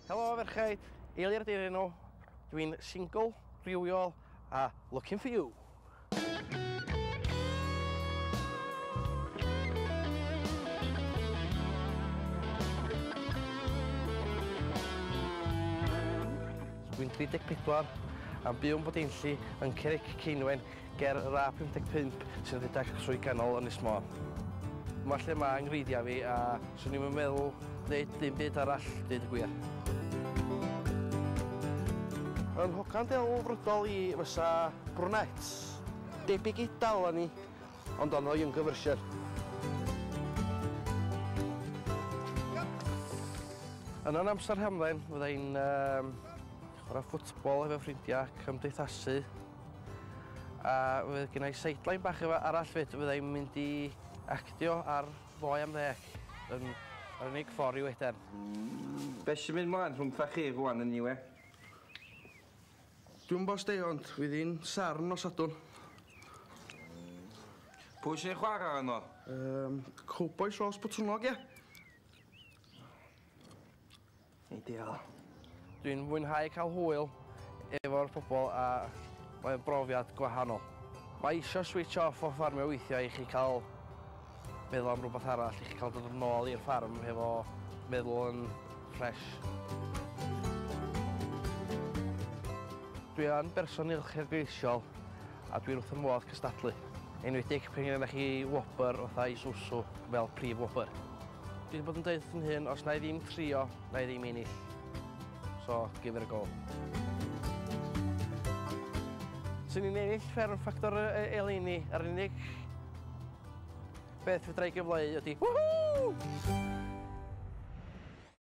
Helo ferchaid, Eilir di'r enw, dwi'n single, rhywiol a looking for you! Dwi'n 34, yn byw yn Bwdinlli, yn Cerrig Ceinwen. Ger yr A55 sy'n rhedeg trwy ganol Ynys Môn. Dyma lle mae 'nghreigiau fi a 'swn i'm yn meddwl wneud dim byd arall, deud y gwir. Fy nghogan delfrydol i fysa brunette. Debyg i Dalani, ond ond o younger version. Yn yn amser hamdden fydda i'n chwarae ffwtbol efo ffrindiau, cymdeithasu. A fydd gen i sideline bach efa- arall 'fyd, fydda i'n mynd i actio ar Ddoe am Ddeg yn yr unig ffordd i weden. Be' sy'n mynd 'mlaen rhwngtha chi rŵan eniwe? Dwi'm 'bo' sti ond fydd hi'n serth nos Sadwrn. Pwy sy'n chwara yno? Yym cowbois os botwnnog ia? Ideal. Dwi'n mwynhau cael hwyl efo'r pobl a mae'n brofiad gwahanol. Mae eisiau switch off o ffarmio weithiau i chi cael meddwl am rhywbeth arall, i chi cael dod yn ôl i'r ffarm hefo meddwl yn ffres. Dwi yn berson uchelgeisiol a dwi'n wrth fy modd cystadlu, enwedig pan gennych chi wobr fatha Isuzu fel prif wobr. Dwi 'di bod yn deud wrth fy mhun os na'i ddim trio, na'i ddim ennill. So, give it a go. Swn i'n ennill fferm ffactor eleini, yr unig beth fedra i gyfleu ydi whoo!